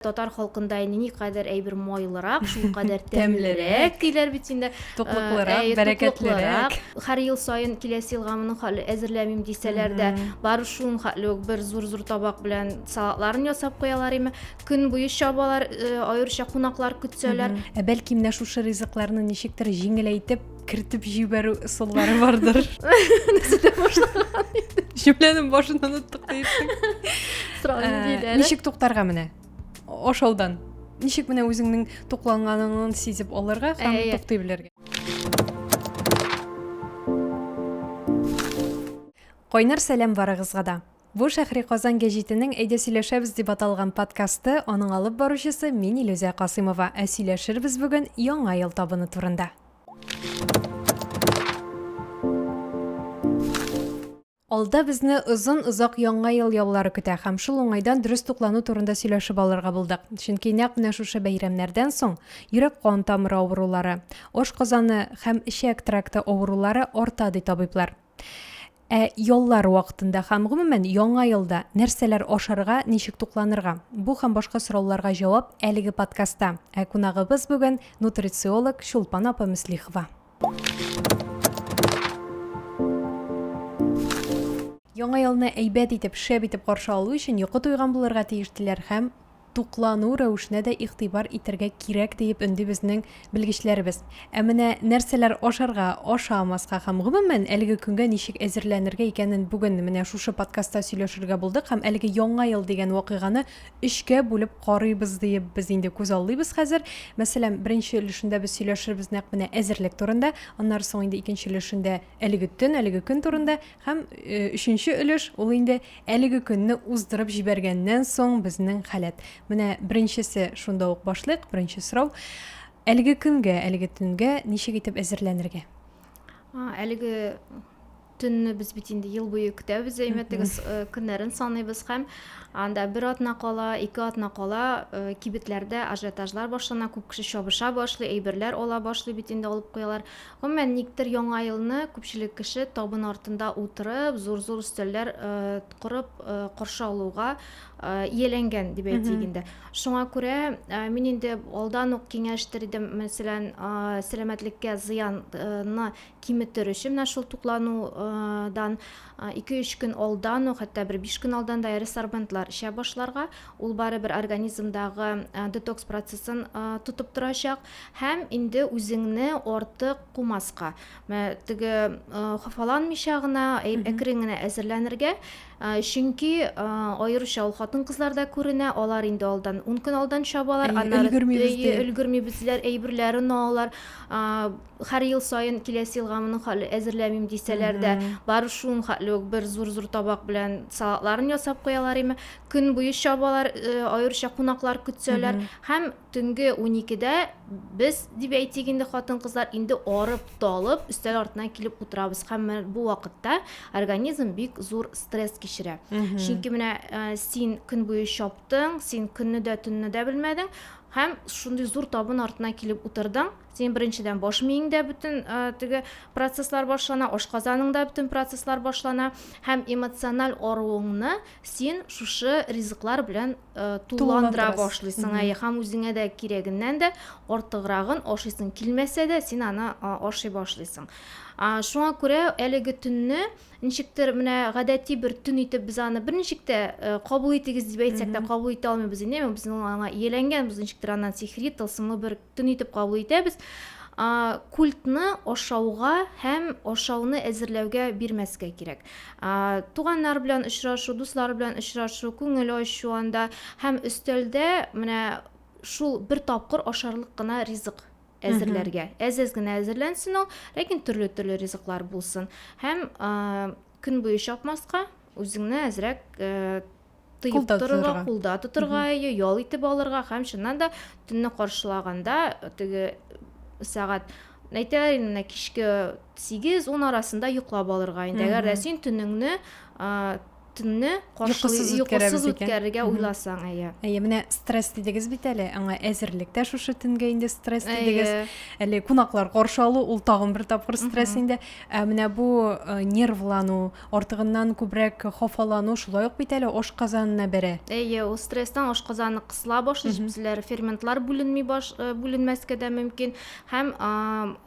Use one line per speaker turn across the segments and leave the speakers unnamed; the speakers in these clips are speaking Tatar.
Татар халкында инде никадәр әйбер майлырак, шулкадәр тәмлерәк диләр бит инде. Туклыклырак, э,
бәрәкәтлерәк. Һәр ел саен
киләсе елга моның хәтле әзерләмим дисәләр дә, бары шуның хәтле үк бер зур-зур табак белән салатларын ясап куялар име. Көн буе чабалар, э, аеруча кунаклар көтсәләр. Ә бәлки менә шушы
ризыкларны ничектер җиңеләйтеп кертеп җибәрү ысуллары бардыр җөмләнең башын оныттык диеттең э, ничек туктарга менә ашаудан ничек менә үзеңнең тукланганыңны сизеп алырга һәм э, э. туктый белергә кайнар сәлам барыгызга да Бу Шәһри Казан гәҗитенең Әйдә сөйләшәбез дип аталган подкасты, аның алып баручысы мин Илүзә Касыймова, ә сөйләшербез бүген Яңа ел табыны турында. Алда безне озын озак Яңа ел яллары көтә һәм шул уңайдан дөрес туклану турында сөйләшеп алырга булдык. Чөнки нәкъ менә шушы бәйрәмнәрдән соң йөрәк-кан тамыры авырулары, ашказаны һәм эчәк тракты авырулары арта ди табиблар. Ә яллар вакытында һәм гомумән яңа елда нәрсәләр ашарга, ничек тукланырга? Бу һәм башка сорауларга җавап әлеге подкастта. Ә кунагыбыз бүген нутрициолог Чулпан апа Мөслихова. Яңа елны әйбәт итеп, шәп итеп каршы алу өчен йокы туйган булырга тиеш диләр һәм туклану рәвешенә дә игътибар итәргә кирәк, диеп өнди безнең белгечләребез. Ә менә нәрсәләр ашарга, ашамаска һәм, гомумән, әлеге көнгә ничек әзерләнергә икәнен бүген менә шушы подкастта сөйләшергә булдык һәм әлеге Яңа ел дигән вакыйганы өчкә бүлеп карыйбыз диеп без инде күзаллыйбыз хәзер. Мәсәлән, беренче өлешендә без сөйләшербез нәкъ менә әзерлек турында, аннары соң инде икенче өлешендә әлеге төн, әлеге көн турында Һәм өченче өлеш ул инде әлеге көнне уздырып җибәргәннән соң безнең халәт. Менә беренчесе шунда ук башлык, беренче сорау. Әлеге көнгә, әлеге төнгә ничек итеп әзерләнергә? Әлеге
төнне без бит инде ел буе көтәбез, әймәтегез, көннәрен саныйбыз һәм анда бер атна кала, ике атна кала кибетләрдә ажиотажлар башлана, күп кеше чабыша башлый, әйберләр ала башлый бит инде алып куялар. Гомумән, никтер Яңа елны күпчелек кеше табын артында утырып, зур-зур өстәлләр корып каршы алуга ияләнгән дип әйтик инде. Шуңа күрә мин инде алдан ук киңәштер идем, мәсәлән, сәламәтлеккә зыянны киметер өчен менә шул тукланудан 2-3 көн алдан ук, хәтта бер 5 көн алдан да ресорбентлар эчә башларга. Ул барыбер организмдагы детокс процессын тотып торачак. Һәм инде үзеңне артык кумаска, мә, теге, э, хафаланмыйча гына, әй- Мгм. әкрен генә әзерләнергә. Э, Чөнки э, аеруча ул хатын-кызларда күренә, алар инде алдан, ун көн алдан чабалар, Әйе, аннары өлгермибез әйе, ди. өлгермибез диләр, әйберләрен алалар. А, Һәр ел саен киләсе елга моның хәтле әзерләмим дисәләр дә, Мгм. бары шуның хәтле үк бер зур-зур табак белән салатларын ясап куялар име, көн буе чабалар, э, аеруча кунаклар көтсәләр. Мгм. Һәм Төнге уникедә без, дип әйтик инде, хатын-кызлар инде арып-талып өстәл артына килеп утырабыз һәм менә бу вакытта организм бик зур стресс кичерә. Чөнки менә э, син көн буе чаптың, син көнне дә, төнне дә белмәдең һәм шундый зур табын артына килеп утырдың. Син беренчедән баш миеңдә бөтен э, теге процесслар башлана, ашказаныңда бөтен процесслар башлана һәм эмоциональ аруыңны син шушы ризыклар белән тулыландыра башлыйсың ә һәм үзеңә дә кирәгеннән дә артыграгын ашыйсың килмәсә дә син аны ашый башлыйсың шуңа күрә әлеге төнне ничектер менә гадәти бер төн итеп без аны берничек тә кабул итегез дип әйтсәк тә кабул итә алмыйбыз инде безнең аңа ияләнгәнбез ничектер аннан сихри тылсымлы бер Төн итеп кабул итәбез. Культны ашауга һәм ашауны әзерләүгә бирмәскә кирәк. Туганнар белән очрашу, дуслар белән очрашу, күңел ачу анда һәм өстәлдә менә шул бер тапкыр ашарлык кына ризык әзерләргә. Әз-әз генә әзерләнсен ул, ләкин төрле-төрле ризыклар булсын. Һәм көн буе чапмаска, үзеңне әзрәк тыеп торырга, кулда тотырга, ее ял итеп алырга һәм чыннан да төнне каршылаганда теге сәгать әйтәләр инде менә кичке сигез ун арасында йоклап алырга инде әгәр дә син төнеңне төнне йокысыз
үткәрергә
уйласаң әйе әйе менә стресс
дидегез бит әле аңа әзерлек тә шушы төнгә инде стресс дидегез әле
кунаклар
каршы алу ул тагын бер тапкыр стресс инде ә менә бу нервлану Артыгыннан күбрәк хафалану шулай ук бит әле ашказанына бәрә. Әйе, ул стресстан
ашказаны кысыла башлый, җепселәр, ферментлар бүленми баш, э, бүленмәскә дә мөмкин һәм а,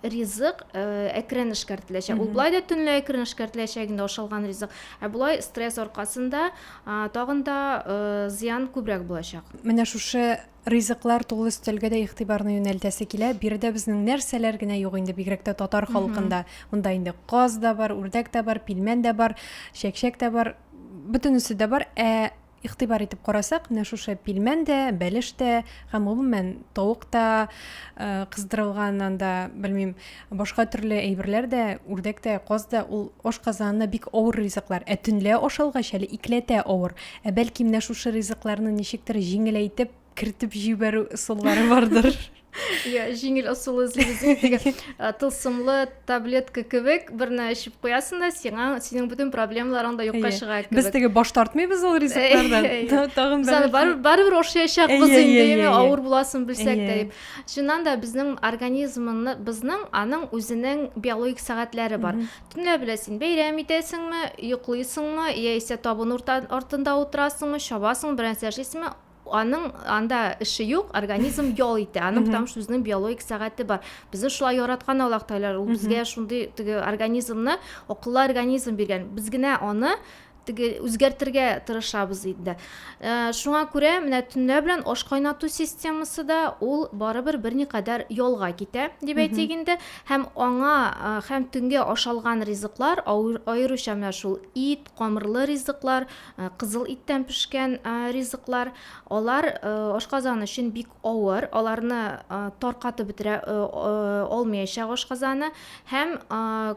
ризык э, әкрен эшкәртеләчәк. Ул былай да төнлә әкрен эшкәртеләчәк инде ашалган ризык. Ә болай стресс аркасында а, тагын да э, зыян күбрәк булачак. Менә шушы
Ризыклар тулы өстәлгә дә игътибарны юнәлтәсе килә. Биредә безнең нәрсәләр генә юк инде, бигрәк тә татар халкында. Монда инде каз да бар, үрдәк тә бар, пилмән дә бар, чәкчәк тә бар, бөтенесе дә бар. Ә игътибар итеп карасак, менә шушы пилмән дә, бәлеш тә һәм гомумән тавык та, э, кыздырылган анда, белмим, башка төрле әйберләр дә, үрдәк тә, каз да, ул ашказанына бик авыр ризыклар. Ә төнлә ашалгач әле икеләтә авыр. Ә бәлки менә шушы ризыкларны ничектер җиңеләйтеп кертеп җибәрү ысуллары бардыр. Иә,
җиңел ысул эзлибез. Тылсымлы таблетка кебек берне эчеп куясың да, сиңа синең бөтен проблемаларың да юкка чыга кебек. Без теге баш тартмыйбыз
ул ризыклардан. Тагын бер. Без аны барыбер
ашаячакбыз инде, авыр буласын белсәк тә дип. Чыннан да безнең организмны, безнең аның үзенең биологик сәгатьләре бар. Төнлә белә син бәйрәм итәсеңме, йоклыйсыңмы, яисә табын уртан, артында утырасыңмы, чабасың, бернәрсә эшлисеңме, аның анда эше юк, организм ял итә. Аның потому что үзенең биологик сәгате бар. Безне шулай яраткан Аллаһ Тәгалә, ул безгә шундый теге организмны, акыллы организм биргән. Без генә аны теге үзгәртергә тырышабыз инде. Э, шуңа күрә менә төнлә белән аш кайнату системасы да ул барыбер берникадәр ялга китә, дип әйтик инде. Һәм аңа э, һәм төнгә ашалган ризыклар, аеруча менә шул ит, камырлы ризыклар, э, кызыл иттән пешкән ризыклар, алар ашказан өчен бик авыр, аларны таркатып бетерә алмыячак ашказаны һәм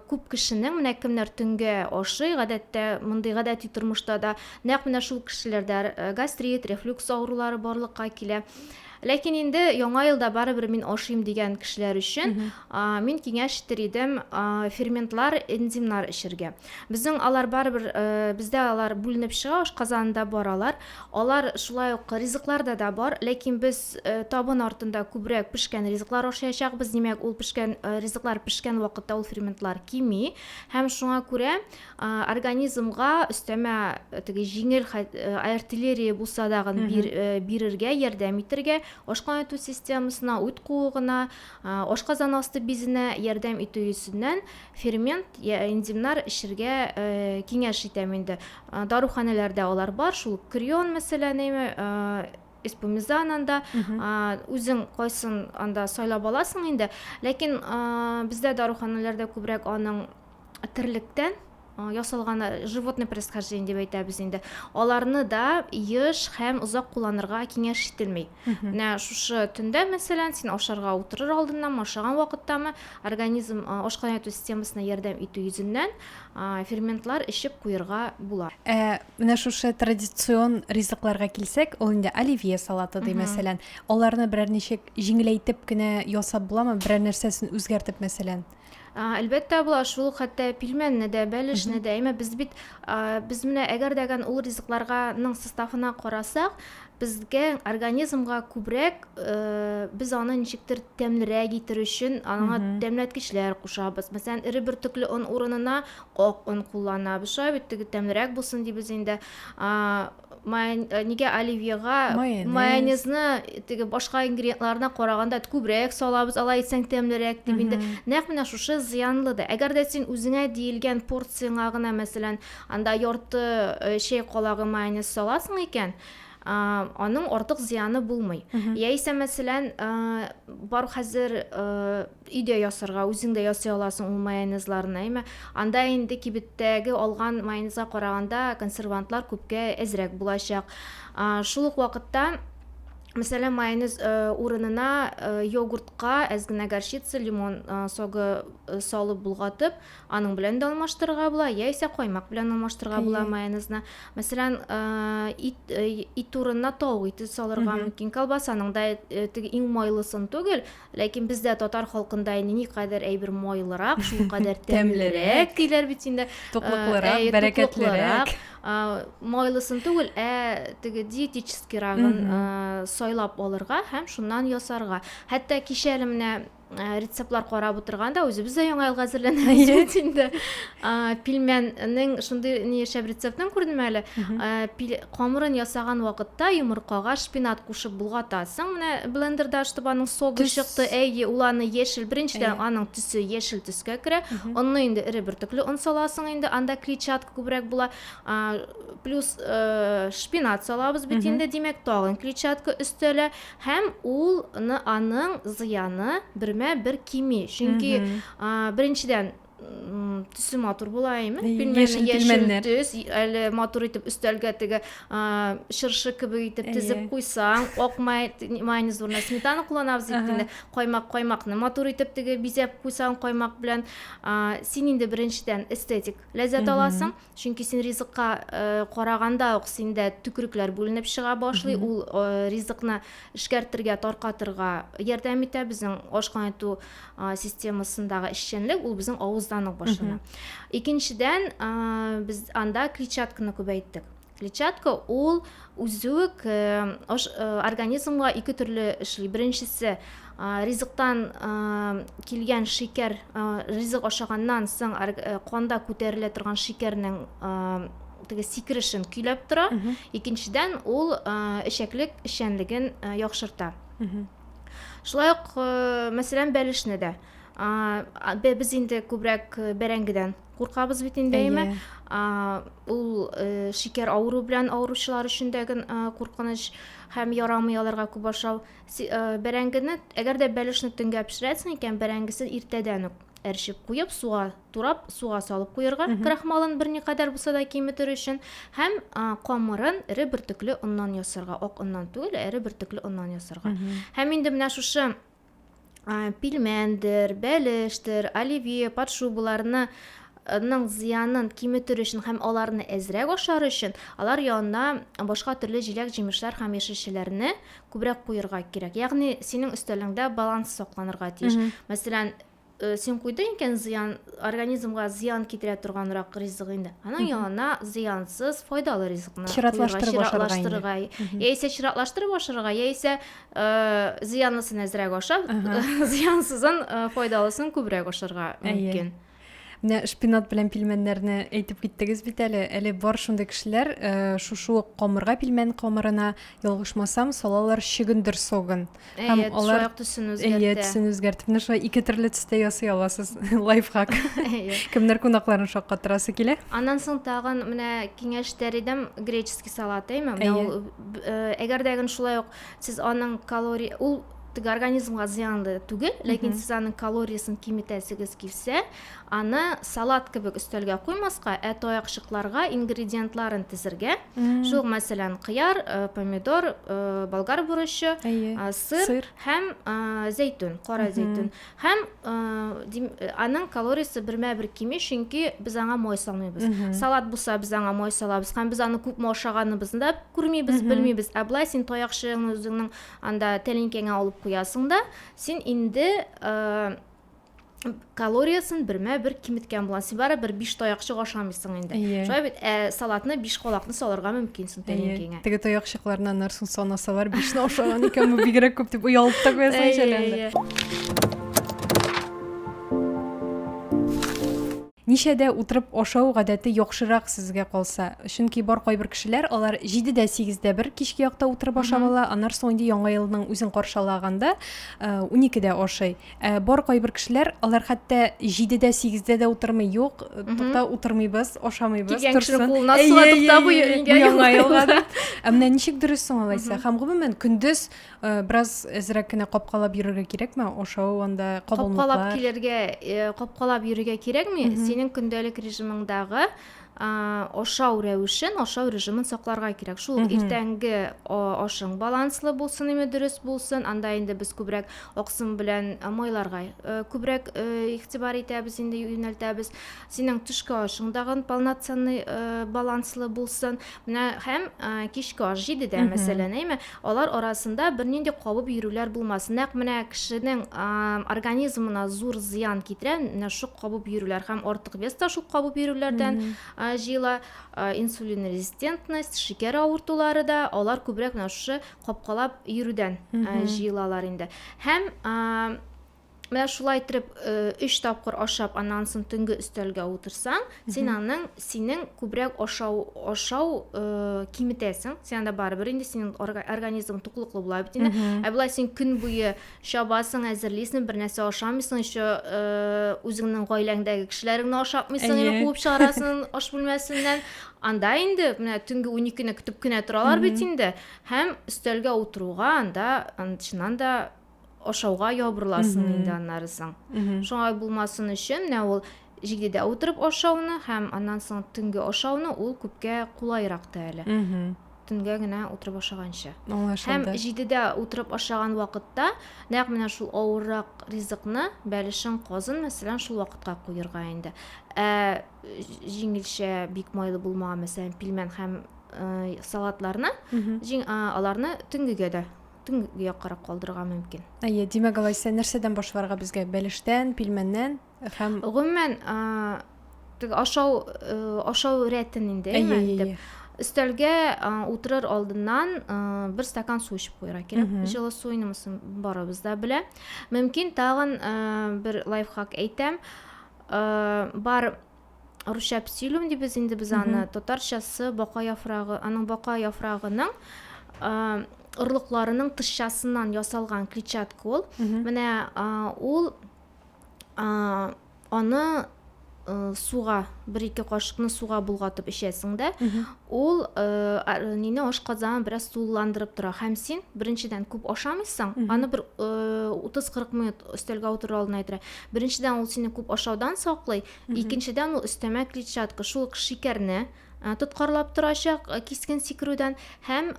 күп кешенең, менә кемнәр төнгә ашый, гадәттә мондый гадәти тормышта да нәкъ менә шул кешеләрдә гастрит, рефлюкс авырулары барлыкка килә. Ләкин инде яңа елда барыбер мин ашыйм дигән кешеләр өчен мин киңәш итер идем ферментлар, энзимнар эчергә. Безнең алар барыбер бездә алар бүленеп чыга, ашказанында бар алар. Алар шулай ук ризыкларда да бар, ләкин без табын артында күбрәк пешкән ризыклар ашаячакбыз, димәк, ул пешкән ризыклар пешкән вакытта ул ферментлар кими һәм шуңа күрә организмга өстәмә теге җиңел артиллерия булса дагын бир, бирергә, ярдәм итергә, ашкан итү системасына, үт куыгына, ашказан асты бизенә ярдәм итү йөзеннән фермент я энзимнар эчергә киңәш итәм инде. Даруханәләрдә алар бар, шул крион мәсәлән, эспумизан анда, үзең кайсын анда сайлап аласың инде. Ләкин бездә даруханәләрдә күбрәк аның терлектән ясалган животный происхождение дип әйтәбез инде. Аларны да еш һәм озак кулланырга киңәш ителми. Менә шушы төндә, мәсәлән, син ашарга утырыр алдыннан, ашаган вакыттамы, организм ашкан яту системасына ярдәм итү йөзеннән ферментлар эчеп куерга була. Ә менә шушы
традицион ризыкларга килсәк, ул инде оливье салаты ди, мәсәлән. Аларны берәр ничек җиңеләйтеп кенә ясап буламы, берәр нәрсәсен үзгәртеп, мәсәлән? А, Әлбәттә
була, шул ук хәтта пилмәнне дә, бәлешне дә. Әмма без бит а, без менә әгәр дәгән ул ризыкларганың составына карасак, безгә организмга күбрәк э, без аны ничектер тәмлерәк итер өчен аңа тәмләткечләр кушабыз. Мәсәлән, эре бөртекле он урынына ак он кулланабыз. Шулай бит теге тәмлерәк булсын дибез инде. А, Майон... Э, нигә оливьега майонез. майонезны теге башка ингредиентларына караганда күбрәк салабыз алай итсәң тәмлерәк дип инде нәкъ менә шушы зыянлы да әгәр дә син үзеңә диелгән порцияңа гына мәсәлән анда ярты э, чәй калагы майонез саласың икән аның артык зыяны булмый яисә мәсәлән бар хәзер Өйдә ясарга, үзең дә ясый аласың ул майонезларны, әмма анда инде кибеттәге алган майонезга караганда консервантлар күпкә әзрәк булачак. Шул ук вакытта, мәсәлән, майонез урынына йогуртка әз генә горчица, лимон согы салып болгатып, аның белән дә алмаштырырга була, яисә каймак белән алмаштырырга була майонезны. Мәсәлән, ит, ит урынына тавык ите салырга мөмкин, колбасаның да теге иң майлысын түгел, Ләкин бездә татар халкында инде никадәр әйбер майлырак, шул кадәр тәмлерәк диләр бит инде. Туклыклырак, бәрәкәтлерәк. Майлысын түгел, ә теге диетическирагын сайлап алырга һәм шуннан ясарга. Хәтта кичә әле менә рецептлар карап утырганда үзебез дә яңа елга әзерләнәбез бит инде. Пилмәннең шундый ни яшәп рецептын күрдем әле. Камырын ясаган вакытта йомыркага шпинат кушып булгатасың. Менә блендерда ачтып аның согы Төс. чыкты. Әйе, ул аны яшел, беренчедән Әйе. аның төсе яшел төскә керә. Онны инде эре бөртекле он саласың инде, анда клетчатка күбрәк була. А, Плюс э, шпинат салабыз бит Мгм. инде, димәк, тагын клетчатка өстәлә. Һәм ул ны аның зыяны бермә-бер кими. Чөнки Мгм. а, беренчедән төсе матур була әйме яшел пилмәннәр төс әле матур итеп өстәлгә теге чыршы кебек итеп тезеп куйсаң ак майонез урынына сметана кулланабыз бит инде каймак каймакны матур итеп теге бизәп куйсаң каймак белән син инде беренчедән эстетик ләззәт аласың Чөнки син ризыкка э, караганда ук синдә төкерекләр бүленеп чыга башлый. Ул э, ризыкны эшкәртергә, таркатырга ярдәм итә. Безнең ашкан итү э, системасындагы эшчәнлек ул безнең авыздан ук башлана. Икенчедән, э, без анда клетчатканы күбәйттек. Клетчатка ул Үзүк аш организмга ике төрле эшли. Беренчесе, ризыктан килгән шикәр, ризык ашаганнан соң канда күтәрелә торган шикәрнең теге сикерешен көйләп тора. Икенчедән, ул эчәклек эшчәнлеген яхшырта. Шулай ук, мәсәлән, бәлешне дә. Без инде күбрәк бәрәңгедән куркабыз бит инде әйме ул э, шикәр авыру белән авыручылар өчен дә гел э, куркыныч һәм ярамый аларга күп ашау э, бәрәңгене әгәр дә бәлешне төнгә пешерәсең икән бәрәңгесен иртәдән үк әрчеп куеп суга турап суга салып куярга крахмалын берникадәр булса да киметер өчен һәм камырын эре бөртекле оннан ясарга ак оннан түгел ә эре бөртекле оннан ясарга һәм инде менә шушы пилмәндер, бәлештер, оливье, подшубаларны ның зыянын киметер өчен һәм аларны әзрәк ашар өчен алар янына башка төрле җиләк җимешләр һәм яшелчәләрне күбрәк куерга кирәк ягъни синең өстәлеңдә баланс сакланырга тиеш мәсәлән Син куйдың икән зыян, организмга зыян китерә торганрак ризык инде. Аның янына зыянсыз, файдалы ризыкны чиратлаштырып ашарга. Яисә чиратлаштырып ашарга, яисә зыянлысын әзрәк ашап, зыянсызын, файдалысын күбрәк ашарга мөмкин. Менә
шпинат белән пилмәннәрне әйтеп киттегез бит әле. Әле бар шундый кешеләр, шушы ук камырга пилмән камырына ялгышмасам, салалар чөгендер согын. Һәм Әйе, алар шулай
төсен үзгәртә. Әйе, төсен үзгәртеп, менә шулай
ике төрле төстә ясый аласыз. Лайфхак. Кемнәр кунакларын шаккатырасы килә? Аннан соң тагын
менә киңәш тәридем греческий салат, әйме? Менә ул э, әгәр дә гын шулай ук сез аның калория ул теге организмга зыянлы түгел, ләкин сез аның калориясен киметәсегез килсә, Аны салат кебек өстәлгә куймаска, ә таякчыкларга ингредиентларын тезергә. Шул мәсәлән, кыяр, э, помидор, э, болгар бурычы, э, сыр, һәм э, зәйтүн, кара зәйтүн. Һәм э, аның калориясе бермә бер кими, чөнки без аңа май салмыйбыз. Салат булса без аңа май салабыз, һәм без аны күпме ашаганыбызны да күрмибез, белмибез. Ә болай син таякчыгыңны үзеңнең анда тәлинкәңә алып куясың да, син инде э, калориясен бермә бер киметкән буласың син барыбер биш таякчык ашамыйсың инде yeah. Иә. шулай бит ә салатны биш калакны салырга мөмкинсең иә. тәлинкеңә yeah. теге таякчыкларны
аннарсын санасалар бишне ашаган икән бу бигрәк күп дип оялып та куясың шәләнде Ничә дә утырып ашау гадәте яхшырак сезгә калса. Чөнки бар кайбер кешеләр, алар җиде дә, сигез дә бер кичке якта утырып ашап ала, аннар соң инде яңа елның үзен каршалаганда унике дә ашый. Ә бар кайбер кешеләр, алар хәтта җиде дә, сигез дә дә утырмый, юк, тукта, утырмыйбыз, ашамыйбыз, торсын. Килгән кешенең кулына суга тукта, бу яңа елга дип. Ә менә ничек дөрес соң алайса? Һәм гомумән, көндез Э, бераз әзрәк кенә капкалап йөрергә кирәкме ашау анда кабымлыклар капкалап килергә э,
капкалап йөрергә кирәкми синең көндәлек режимыңдагы ашау рәвешен ашау режимын сакларга кирәк шул ук иртәнге ашың баланслы булсын именно дөрес булсын анда инде без күбрәк аксым белән майларга э, күбрәк игътибар итәбез инде юнәлтәбез Синең төшке ашың дагын полноценный баланслы булсын. Менә һәм кичке аш җидедә, мәсәлән, әйме, алар арасында бернинди кабып йөрүләр булмасын. Нәкъ менә кешенең организмына зур зыян китерә, менә шул кабып йөрүләр һәм артык вес та шул кабып йөрүләрдән җыела. Инсулин резистентность, шикәр авыртулары да, алар күбрәк менә шушы капкалап йөрүдән җыелалар инде. Һәм Менә шулай итеп 3 э, тапкыр ашап, аннан соң төнге өстәлгә утырсаң, син аның синең күбрәк ашау ашау э, киметәсең. Син анда барыбер инде синең организм туклыклы була бит инде. Ә болай син көн буе чабасың, әзерлисең, бер нәрсә ашамыйсың, еще э, үзеңнең гаиләңдәге кешеләреңне ашатмыйсың, яки куып чыгарасың аш бүлмәсеннән. Анда инде менә төнге 12-ны көтеп кенә торалар бит инде. Һәм өстәлгә утыруга анда чыннан да ашауга ябырыласың инде аннары соң шуңа булмасын өчен менә ул җигдедә утырып ашауны һәм аннан соң төнге ашауны ул күпкә кулайрак та әле төнгә генә утырып ашаганчы һәм җидедә утырып ашаган вакытта нәкъ менә шул авыррак ризыкны бәлешен казын мәсәлән шул вакытка куерга инде ә җиңелчә бик майлы булмаган мәсәлән пилмән һәм салатларны аларны төнгегә дә төнге яккарак калдырырга мөмкин. Әйе, димәк алайса
нәрсәдән башларга безгә? Бәлештән, пилмәннән һәм Гомумән,
теге ашау э, ашау рәтен инде әйе, әйе. Өстәлгә утырыр алдыннан бер стакан су эчеп куярга кирәк. Җылы су инемесен барыбыз да белә. Мөмкин тагын бер лайфхак әйтәм. Бар русча псилюм дибез инде без аны татарчасы бака яфрагы аның бака яфрагының орлыкларының тышчасыннан ясалган клетчатка ул менә ул аны э, суга бер ике кашыкны суга болгатып эчәсең дә ул э, нине ашказанын бераз сууландырып тора һәм син беренчедән күп ашамыйсың аны бер э, утыз кырык минут өстәлгә утыру алдына әйтә Беренчедән ул сине күп ашаудан саклый, икенчедән ул өстәмә клетчатка, шул ук шикәрне тоткарлап торачак кискен сикерүдән һәм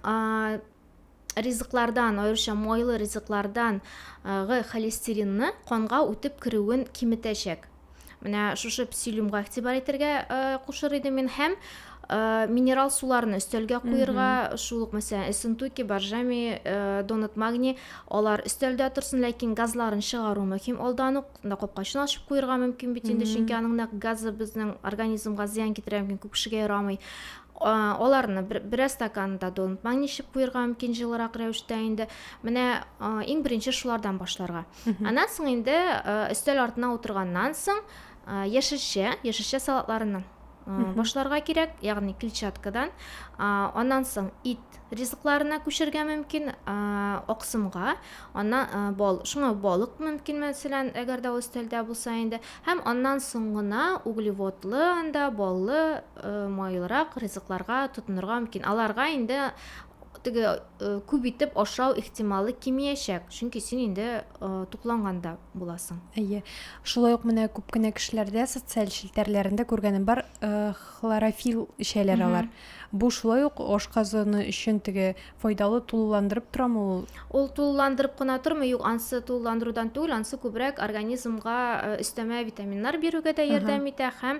ризыклардан, аеруча майлы ризыклардан гы холестеринны канга үтеп керүен киметәчәк. Менә шушы псилюмга игътибар итәргә кушыр идем мин һәм Э, минерал суларны өстәлгә куерга шул ук мәсәлән эссентуки боржоми э, донат магний алар өстәлдә торсын ләкин газларын чыгару мөһим алдан ук мында капкачын ачып куерга мөмкин бит инде чөнки аның нәкъ газы безнең организмга зыян китерә мөмкин күп кешегә ярамый аларны бераз стаканда донат магний эчеп куерга мөмкин җылырак рәвештә инде менә иң беренче шулардан башларга аннан соң инде өстәл артына утырганнан соң яшелчә яшелчә салатларының Мгм. башларга кирәк, ягъни клетчаткадан. Аннан соң ит ризыкларына күчергә мөмкин, аксымга, аннан бал, шуңа балык мөмкин, мәсәлән, әгәр дә ул өстәлдә булса инде. Һәм аннан соң гына углеводлы анда баллы, майлырак ризыкларга тотынырга мөмкин. Аларга инде теге э, күп итеп ашау ихтималы кимиячәк, чөнки син инде э, тукланганда буласың. Әйе. Шулай ук
менә күп кенә кешеләрдә социаль челтәрләрендә күргәнем бар, э, хлорофил эчәләр алар. Бу шулай ук ашказаны өчен теге файдалы тулыландырып торамы ул? Ул тулыландырып
кына тормый, юк, ансы тулыландырудан түгел, ансы күбрәк организмга өстәмә витаминнар бирүгә дә ярдәм итә һәм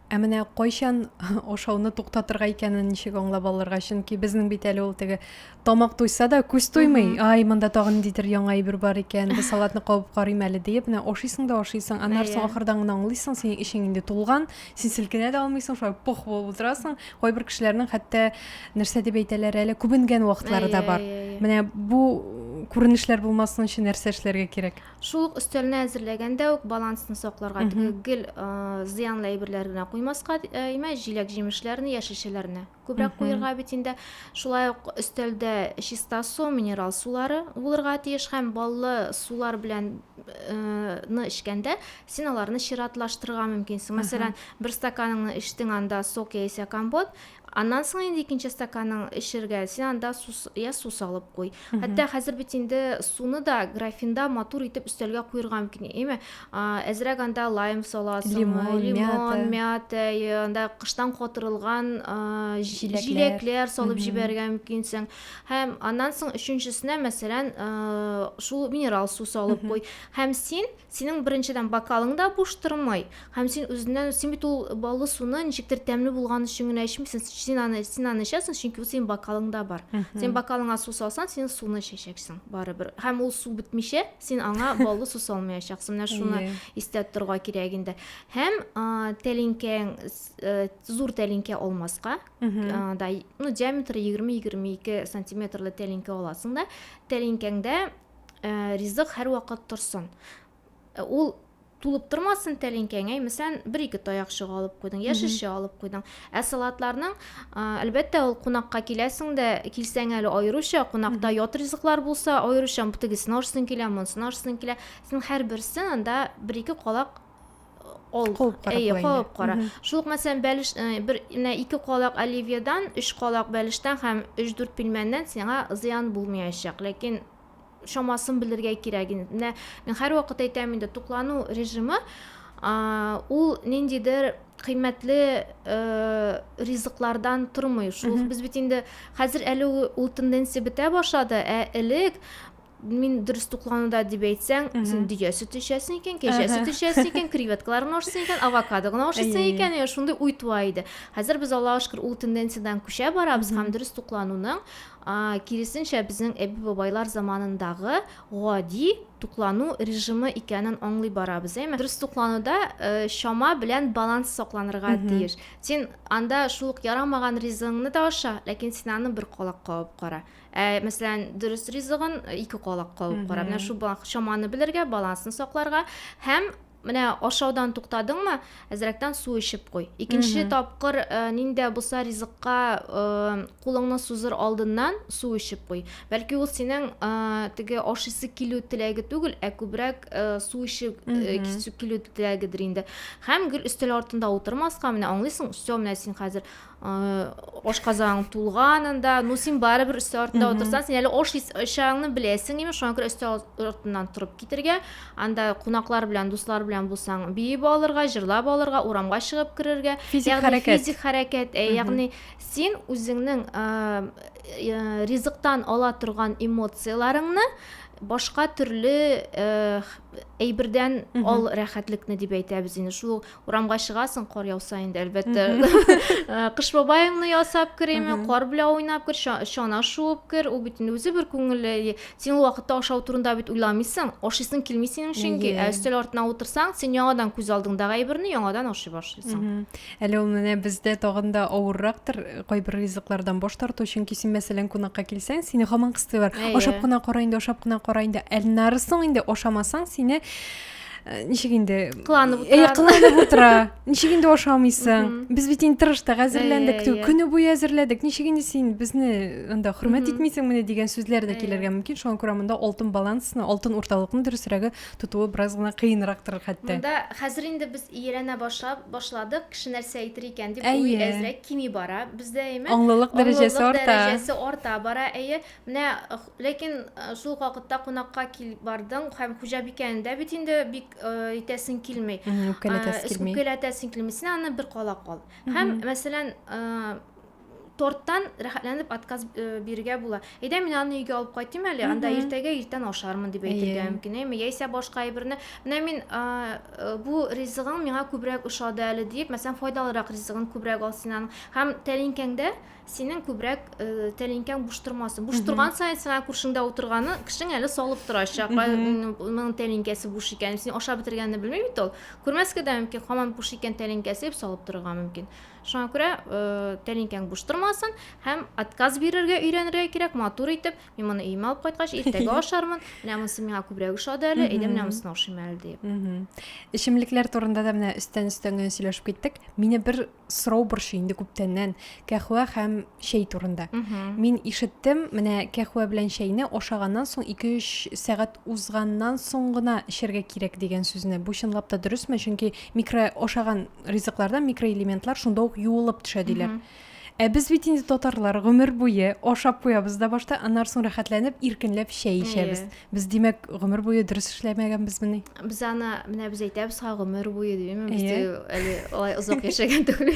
Ә менә кайчан
ашауны туктатырга икәнен ничек аңлап алырга? Чөнки безнең бит әле ул теге тамак туйса да күз туймый. Mm -hmm. Ай, монда тагын ниндидер яңа әйбер бар икән. Бу салатны кабып карыйм әле диеп, менә ашыйсың да ашыйсың. Аннары yeah. соң ахырдан гына аңлыйсың, синең эчең инде тулган, син селкенә дә алмыйсың, шулай пох булып утырасың. Кайбер кешеләрнең хәтта нәрсә дип әйтәләр әле, күбенгән вакытлары да бар. Менә бу күренешләр булмасын өчен нәрсә эшләргә кирәк? Шул ук өстәлне
әзерләгәндә үк балансны сакларга, теге гел зыянлы әйберләр генә куймаска, имә җиләк-җимешләрне, яшелчәләрне күбрәк куерга бит инде. Шулай ук өстәлдә чиста су, минерал сулары булырга тиеш һәм баллы сулар белән ны эчкәндә, син аларны чиратлаштырырга мөмкинсең. Мәсәлән, бер стаканыңны эчтең, анда сок яисә компот, Аннан соң инде икенче стаканың эчергә, син анда су, я су салып куй. Хәтта хәзер бит инде суны да графинда матур итеп өстәлгә куерга мөмкин. Әйме, әзрәк анда лайм саласың, лимон, лимон
мята,
анда кыштан катырылган җиләкләр. җиләкләр салып җибәрергә мөмкинсең. Һәм аннан соң өченчесенә, мәсәлән, шул минерал су салып куй. Һәм син Синең беренчедән бокалың да буш тормый, һәм син үзеннән, син бит ул баллы суны ничектер тәмле булган өчен генә эчмисең, син аны, син аны эчәсең, чөнки ул синең бокалыңда бар. Син бокалыңа су салсаң, син суны эчәчәксең барыбер. Һәм ул су бетмичә, син аңа баллы су салмаячаксың. Менә шуны истә тоторга кирәк инде. Һәм тәлинкәң э, зур тәлинкә алмаска, да, ну, диаметры 20-22 сантиметрлы тәлинкә аласың да, тәлинкәңдә ә, ризык һәрвакыт торсын. Ә, ул тулып тормасын тәлинкәң, әй, мәсәлән, бер-ике таякчык алып куйдың, яшелчә алып куйдың. Ә салатларның, ә, әлбәттә, ул кунакка киләсең дә, килсәң әле аеруча, кунакта ят ризыклар булса, аеруча тегесен арсың килә, монсын арсың килә. Син һәрберсен анда бер-ике калак ул куып кара әйе куып кара шул ук мәсәлән бәлеш бер менә ике калак оливьедан өч калак бәлештән һәм өч дүрт пилмәннән сиңа зыян булмаячак ләкин шамасын белергә кирәк инде менә мин һәрвакыт әйтәм инде туклану режимы ул ниндидер кыйммәтле э, ризыклардан тормый шул без бит инде хәзер әле ул тенденция бетә башлады ә элек мин дөрес туклануда дип әйтсәң син дөя сөте эчәсең икән кәҗә сөте эчәсең икән креветкаларны ашыйсың икән авокадо гына ашыйсың икән иә шундый уй туа иде хәзер без аллаға шөкер ул тенденциядан күчә барабыз һәм дөрес туклануның киресенчә безнең әби бабайлар заманындагы гади туклану режимы икәнен аңлый барабыз әйме дөрес туклануда э, чама белән баланс сакланырга тиеш син анда шул ук ярамаган ризыгыңны да аша ләкин син аны бер колак кабып кара Ә, мәсәлән, дөрес ризыгын ике колак кагып кара. Менә шул чаманы белергә, балансны сакларга һәм менә ашаудан туктадыңмы, әзрәктән су эчеп куй. Икенче тапкыр э, ниндә булса ризыкка э, кулыңны сузыр алдыннан су эчеп куй. Бәлки ул синең э, теге ашыйсы килү теләге түгел, ә күбрәк э, су эчеп э, кисү килү теләгедер инде. Һәм гел өстәл артында утырмаска, менә аңлыйсың, все, менә син хәзер ашказаның тулганын да ну син барыбер өсте артында утырсаң син әле аш ачагыңны беләсең имеш шуңа күрә өсте артыннан торып китергә анда кунаклар белән дуслар белән булсаң биеп алырга җырлап алырга урамга чыгып керергә физик хәрәкәт физик хәрәкәт ә ягъни син үзеңнең ризыктан ала торган эмоцияләреңне башка төрле әйбердән ал рәхәтлекне дип әйтәбез инде шул урамга чыгасың кар яуса инде әлбәттә э, кыш бабаеңны ясап кер эме кар белән уйнап кер чана шуып кер ул бит үзе бер күңелле син ул вакытта ашау турында бит уйламыйсың ашыйсың килми синең чөнки ә өстәл артына утырсаң син яңадан күз алдыңдагы әйберне яңадан ашый башлыйсың әле ул менә
бездә тагын да авыррактыр кайбер ризыклардан баш тарту чөнки син мәсәлән кунакка килсәң сине һаман кыстыйлар ашап кына кара инде ашап кына кара инде әлнарысын инде ашамасаң сине Э, ничек инде кыланып утыра э, кыланып
утыра
ничек инде ашамыйсың без бит инде тырыштык әзерләндек көне буе әзерләдек ничек инде син безне анда хөрмәт итмисеңмени дигән сүзләр дә килергә мөмкин шуңа күрә монда алтын балансны алтын урталыкны дөресрәге тотуы бераз гына кыенрактыр хәтта монда хәзер инде
без ияләнә башлап башладык кеше нәрсә әйтер икән дип уй әзрәк кими бара бездә әйме аңлылык дәрәҗәсе
арта дәрәҗәсе арта бара
әйе Менә, ләкин шул ук вакытта кунакка килеп бардың һәм хуҗабикәне дә бит инде бик итәсең килми. Үпкәләтәсең килми. Үпкәләтәсең килми. Син аны бер кала кал. Һәм, мәсәлән, торттан рәхәтләнеп отказ э, бирергә була. Әйдә мин аны өйгә алып кайтыйм әле, анда иртәгә иртән ашармын дип әйтергә мөмкин, әйме? Яисә башка әйберне, менә мин э, бу ризыгың миңа күбрәк ошады әле дип, мәсәлән, файдалырак ризыгын күбрәк ал син аның. Һәм тәлинкәңдә синең күбрәк э, тәлинкәң буш тормасын буш торган саен сиңа күршеңдә утырганы кешең әле салып торачак моның тәлинкәсе буш икән син ашап бетергәнне белми бит ул күрмәскә дә мөмкин һаман буш икән тәлинкәсе дип салып торырга мөмкин шуңа күрә э, тәлинкәң буш тормасын һәм отказ бирергә өйрәнергә кирәк матур итеп мин моны өемә алып кайткач иртәгә ашармын менә монысы миңа күбрәк ошады әле әйдә менә монысына ашыйм әле дип эчемлекләр турында
да менә өстән өстән генә сөйләшеп киттек мине бер сорау борчый инде күптәннән кәхвә һәм чәй турында. Мин ишеттем, менә кәхвә белән чәйне ашаганнан соң 2-3 сәгать узганнан соң гына эчәргә кирәк дигән сүзне. Бу чынлап та дөресме? Чөнки микро ашаган ризыклардан микроэлементлар шунда ук юылып төшә диләр. Ә без бит инде татарлар гомер буе ашап куябыз да башта, аннары соң рәхәтләнеп, иркенләп чәй ичәбез. Без димәк гомер буе дөрес эшләмәгәнбезмени? Без аны
менә без әйтәбез ха гомер буе димме? Без әле алай
озак
яшәгән түгел.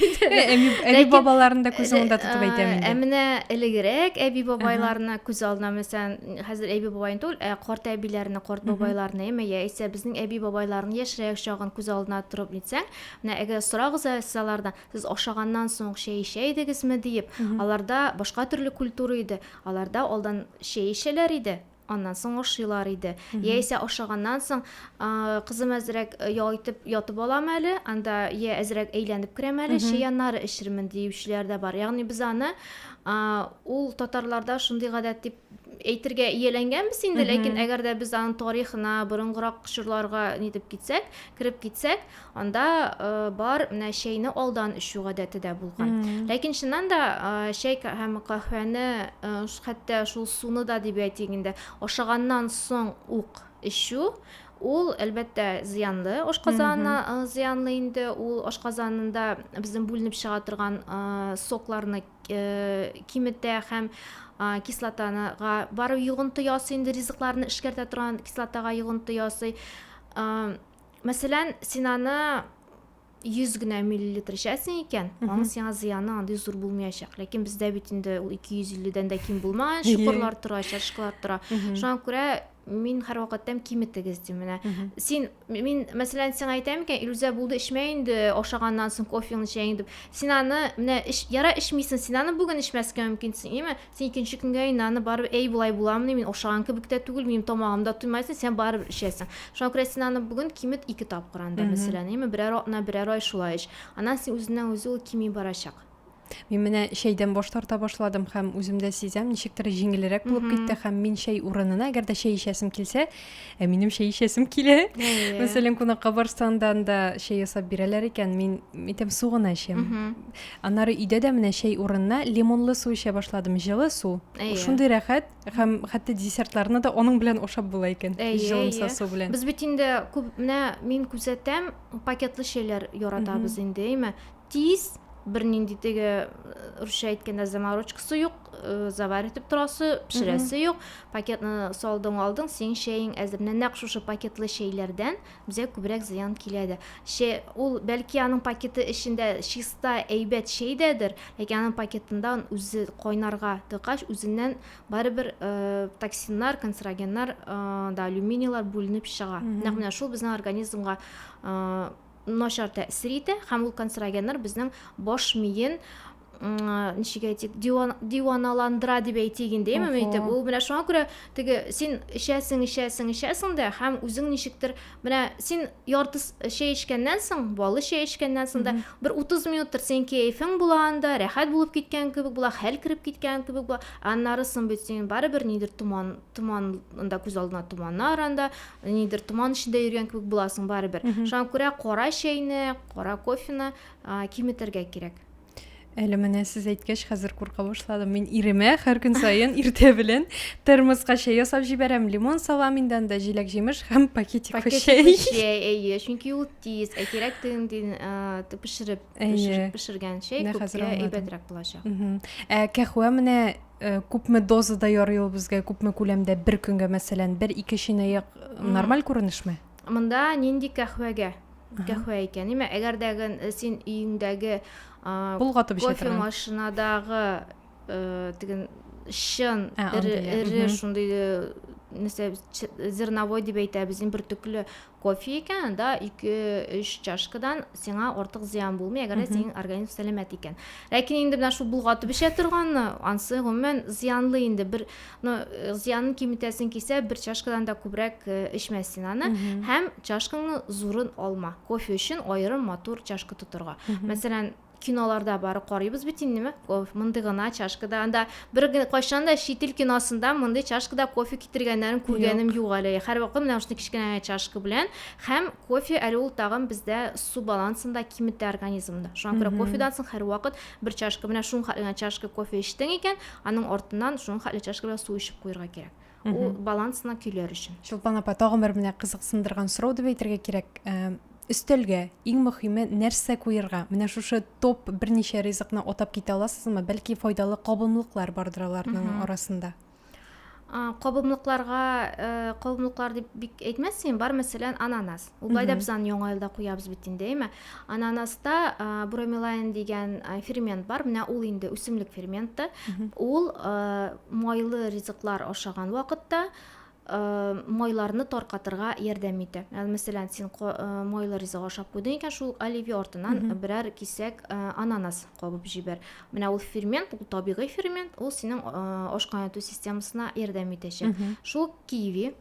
Әби бабаларын
да күз алдында тотып әйтәм инде. Ә менә элегрәк
әби бабайларны күз алдына мәсәлән, хәзер әби бабайны түгел, ә карт әбиләрне, карт бабайларны, әмма яисә безнең әби бабайларын яшьрәк чагын күз алдына торып нитсәң, менә әгәр сорагыз сез алардан, сез ашаганнан соң чәй эчә идегезме диеп, аларда башка төрле культура иде. Аларда алдан чәй эчәләр иде, аннан соң ашыйлар иде яисә ашаганнан соң кызым әзрәк ял итеп ятып алам әле анда я әзрәк әйләнеп керәм әле чәй аннары эчермен диючеләр дә бар ягъни без аны ул татарларда шундый гадәт дип әйтергә ияләнгәнбез инде ләкин әгәр дә без аның тарихына борынгырак чорларга нитеп китсәк кереп китсәк анда э, бар менә чәйне алдан эчү гадәте дә булган ләкин чыннан да э, чәй һәм каһвәне э, хәтта шул суны да дип әйтик инде ашаганнан соң ук эчү ул әлбәттә зыянлы ашказанына э, зыянлы инде ул ашказанында безнең бүленеп чыга торган э, сокларны э, киметә һәм а, кислотаныга барып йогынты ясый инде ризыкларны эшкәртә торган кислотага йогынты ясый Мәсәлән, син аны 100 генә миллилитр эчәсең икән, аның сиңа зыяны андый зур булмаячак. Ләкин бездә бит инде ул 250-дән дә ким булмаган чокырлар тора, чашкалар тора. Шуңа күрә мин һәрвакыт әйтәм, киметегез дим менә. Син мин мәсәлән сиңа әйтәм икән, Илүзә булды, эчмә инде, ашаганнан соң кофеңне, чәеңне дип. Син аны менә яра эчмисең, син аны бүген эчмәскә мөмкинсең, име? Син икенче көнгә инде аны барыбер, әй, болай буламыни, мин ашаган кебек тә түгел, минем тамагым да туймасын, син барыбер эчәсең. Шуңа күрә син аны бүген кимет ике тапкыр анда, мәсәлән, яме берәр атна, берәр ай шулай эч. Аннан син үзеннән-үзе ул кими барачак. Мин менә
чәйдән баш тарта башладым һәм үзем дә сизәм, ничектер җиңелрәк булып китте һәм мин чәй урынына, әгәр дә чәй эчәсем килсә, ә минем чәй эчәсем килә мәсәлән кунакка барсаң да анда чәй ясап бирәләр икән мин әйтәм су гына эчәм аннары өйдә дә менә чәй урынына лимонлы су эчә башладым җылы су шундый рәхәт һәм хәтта десертларны да аның белән ашап була икән җылымса су белән без бит инде күп
менә мин күзәтәм пакетлы чәйләр яратабыз инде әйме Тиз, бернинди теге русча әйткәндә заморочкасы юк, завар итеп торасы, пешерәсе юк. Пакетны салдың, алдың, синең чәең әзер. Менә нәкъ шушы пакетлы чәйләрдән безгә күбрәк зыян килә дә. Чәй, ул бәлки аның пакеты эчендә чиста, әйбәт чәй дәдер, ләкин аның пакетында үзе кайнарга тыкач, үзеннән барыбер токсиннар, канцерогеннар, да алюминийлар бүленеп чыга. Нәкъ менә шул безнең организмга начар тәэсир итә һәм ул канцерогеннар безнең баш миен ничек әйтик диваналандыра дип әйтик инде имем итеп ул менә шуңа күрә теге син эчәсең эчәсең эчәсең дә һәм үзең ничектер менә син ярты чәй эчкәннән соң балы чәй эчкәннән соң да бер утыз минуттыр синең кәефең була анда рәхәт булып киткән кебек була хәл кереп киткән кебек була аннары соң бит син барыбер нидер томан томан анда күз алдына томаннар анда нидер томан эчендә йөргән кебек буласың барыбер шуңа күрә кара чәйне кара кофены киметергә кирәк әле менә
сез әйткәч хәзер курка башладым мин иремә һәр көн саен иртә белән термоска чәй ясап җибәрәм лимон салам инде анда җиләк җимеш һәм пакетик чәй әйе чөнки
ул тиз ә кирәк тегендей пешереп пешергән чәй күпкә әйбәтрәк булачак ә кәхвә
менә Э, күпме дозада ярый ул безгә күпме күләмдә бер көнгә мәсәлән бер ике чынаяк нормаль күренешме монда нинди
кәхвәгә кәхвә икән имә әгәр дә э, син өеңдәге болгатып
кофе машинадагы
э, теген чын эре шундый нәрсә зерновой дип әйтәбез бер төкле Кофе икән, анда ике-өч чашкадан сиңа артык зыян булмый, әгәр дә синең организм сәламәт икән. Ләкин инде менә шул болгатып эчә торганны, ансы гомумән зыянлы инде. Бер ну, э, зыянын киметәсең кисә, бер чашкадан да күбрәк э, эчмә син аны. Һәм чашкаңны зурын алма. Кофе өчен аерым матур чашка тотырга. Мәсәлән, Киноларда бары карыйбыз бит инде, мә, кофе, мондый гына чашка да, анда бер генә кайчан да чит ил киносында мондый чашкада кофе китергәннәрен күргәнем юк, юк әле. Һәрвакыт менә шундый кечкенә генә чашка белән һәм кофе әле ул тагын бездә су балансын да киметә организмда. Шуңа күрә кофедан соң һәрвакыт бер чашка, менә шуның хәтле генә чашка кофе эчтең икән, аның артыннан шуның хәтле чашка белән су эчеп куярга кирәк. ул балансына
көйләр өчен чулпан апа тагын
бер менә
кызыксындырган
сорау
дип әйтергә кирәк өстәлгә иң мөхиме нәрсә куерга менә шушы топ берничә ризыкны атап китә аласызмы бәлки файдалы кабымлыклар бардыр аларның арасында кабымлыкларга
кабымлыклар дип бик әйтмәссең бар мәсәлән ананас Ул былай да без аны яңа елда куябыз бит инде, әйме? Ананаста бромелайн дигән фермент бар. Менә ул инде үсемлек ферменты. Ул майлы ризыклар ашаган вакытта майларны таркатырга ярдәм итә. Ял мәсәлән, син майлы ризык ашап куйдың икән, шул оливье артынан берәр кисәк ананас кабып җибәр. Менә ул фермент, ул табигый фермент, ул синең ашкайнату системасына ярдәм итәчәк. Шул киви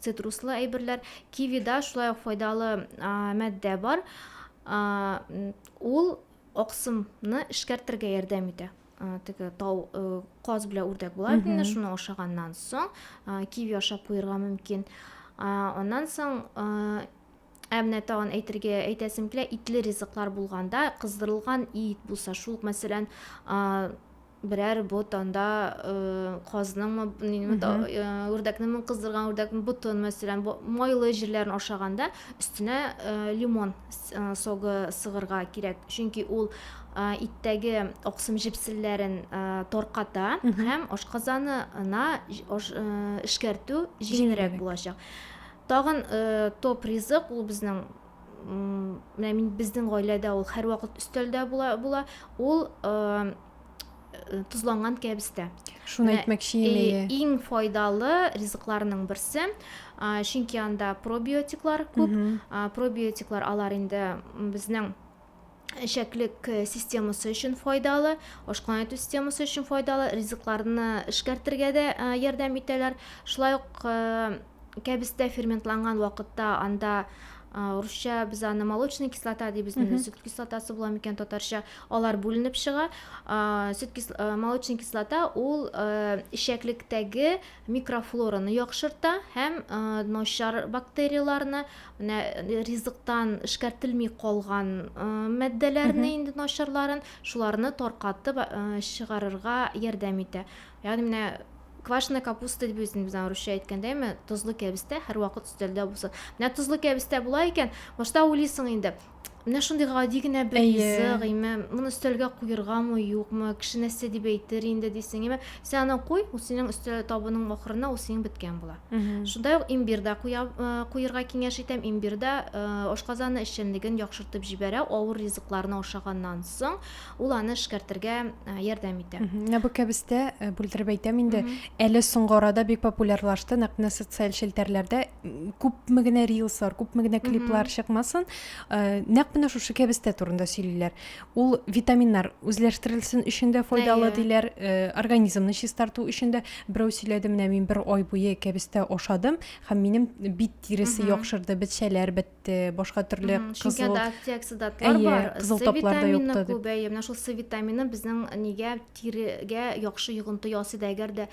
Цитруслы әйберләр, кивида шулай ук файдалы матдә бар. Ул аксымны эшкәртергә ярдәм итә теге тау каз белән үрдәк була бит инде шуны ашаганнан соң киви ашап куярга мөмкин аннан соң ә менә тагын әйтергә әйтәсем килә итле ризыклар булганда кыздырылган ит булса шул мәсәлән берәр бот анда казныңмы нинме үрдәкнеңме кыздырган үрдәкнең ботын мәсәлән майлы җирләрен ашаганда өстенә лимон согы сыгырга кирәк чөнки ул иттәге аксым җепселләрен тарката һәм ашказанына эшкәртү җиңелрәк булачак тагын топ ризык ул безнең менә мин безнең гаиләдә ул һәрвакыт өстәлдә була, була. Ул э, тозланган кәбестә. Шуны әйтмәкче
идем. Иң файдалы
ризыкларның берсе, чөнки анда пробиотиклар күп. Пробиотиклар алар инде безнең эчәклек э, системасы өчен файдалы, ашкана итү системасы өчен файдалы, ризыкларны эшкәртергә дә э, ярдәм итәләр. Шулай ук э, кәбестә ферментланган вакытта анда русча без аны молочная кислота дибез инде сөт кислотасы була микән татарча алар бүленеп чыга сөт молочная кислота ул эчәклектәге микрофлораны яхшырта һәм начар бактерияләрне, менә ризыктан эшкәртелми калган матдәләрне инде начарларын, шуларны таркатып чыгарырга ярдәм итә. Ягъни менә квашеная капуста дип үзен без русча әйткәндә ме тозлы кәбестә һәрвакыт өстәлдә булсын менә тозлы кәбестә була икән башта уйлыйсың инде Менә шундый гади генә бер Әйе. ризык, име, моны өстәлгә куергамы, юкмы, кеше нәрсә дип әйтер инде дисең, име. Син аны куй, ул синең өстәл табының ахырына ул синең беткән була. Мгм. Шунда ук имбир дә куя, э, куерга киңәш итәм. Имбир дә э, ашказаны эшчәнлеген яхшыртып җибәрә, авыр ризыкларны ашаганнан соң ул аны эшкәртергә э, ярдәм итә. Мгм. Менә бу кәбестә, э,
бүлдереп әйтәм инде, Мгм. әле соңгы арада бик популярлашты, нәкъ менә социаль челтәрләрдә күпме генә рилслар күпме генә клиплар чыкмасын э, нәкъ менә шушы кәбестә турында сөйлиләр ул витаминнар үзләштерелсен өчен дә файдалы диләр э, организмны чистарту өчен дә берәү сөйләде менә мин бер ай буе кәбестә ашадым һәм минем бит тиресе яхшырды бетчәләр бетте башка төрле кызыл антиоксидантлар
бар кызыл таплар да юкты
күбәе менә шул с витамины
безнең нигә тирегә яхшы йогынты ясый да әгәр дә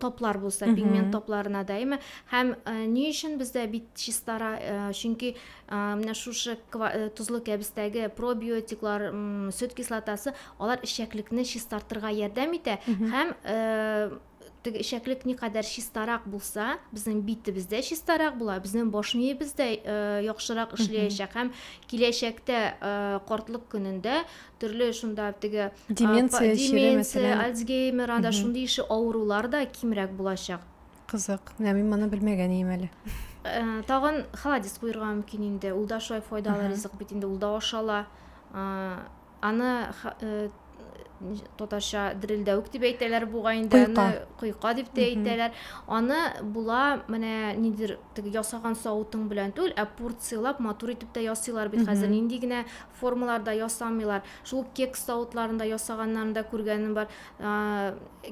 топлар булса пигмент топларына дәйме һәм ни өчен бездә бит чистара чөнки менә шушы тозлы кәбестәге пробиотиклар сөт кислотасы алар эчәклекне чистартырга ярдәм итә һәм теге эчәклек никадәр чистарак булса безнең битебез дә чистарак була безнең баш миебез дә яхшырак эшләячәк һәм киләчәктә картлык көнендә төрле шунда теге деменция, деменция альцгеймер анда шундый ише авырулар да кимрәк булачак кызык менә
мин моны белмәгән идем әле э, тагын
халадис куерга мөмкин инде ул да шулай файдалы ризык бит инде ул да ашала э, аны э, татарча дерелдәвек дип әйтәләр бугай инде аны койка дип тә әйтәләр аны була менә нидер теге ясаган савытың белән түгел ә порцияләп матур итеп тә ясыйлар бит хәзер нинди генә Формаларда ясамыйлар. Шул ук кекс савытларында ясаганнарын да күргәнем бар.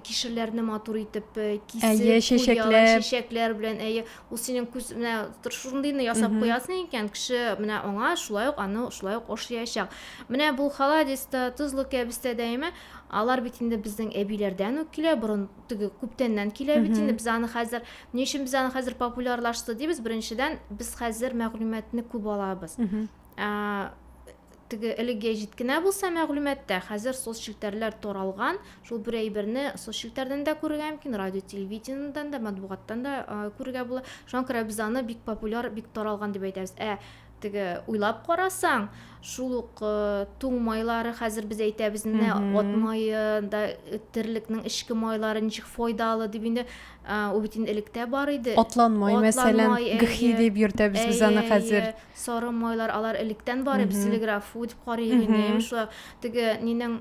Кишерләрне матур итеп кисеп, әйе, чәчәкләр, чәчәкләр белән, әйе, ул синең күз менә шундыйны ясап куясың икән, кеше менә аңа шулай ук аны шулай ук ошаячак. Менә бу халадиста, тозлы кәбестә дәйме, алар бит инде безнең әбиләрдән үк килә, борын теге күптәннән килә бит инде. Без аны хәзер, ни өчен без аны хәзер популярлашты дибез? Беренчедән, без хәзер мәгълүматны күп алабыз. Ә, теге элек гәҗит кенә булса мәгълүматта, хәзер соцчелтәрләр таралган. Шул бер әйберне соцчелтәрдән дә күрергә мөмкин, радио, телевидениедән дә, матбугаттан да күрергә була. Шуңа күрә без аны бик популяр, бик таралган дип әйтәбез. Ә теге уйлап карасаң, шул ук э, туң майлары хәзер без әйтәбез менә ат мае да э, терлекнең эчке майлары ничек файдалы дип инде э, ул бит инде электә бар иде. Атлан май, мәсәлән,
гхи дип йөртәбез без аны хәзер. сары майлар
алар электән бар бит телеграф дип карый идем шулай теге нинең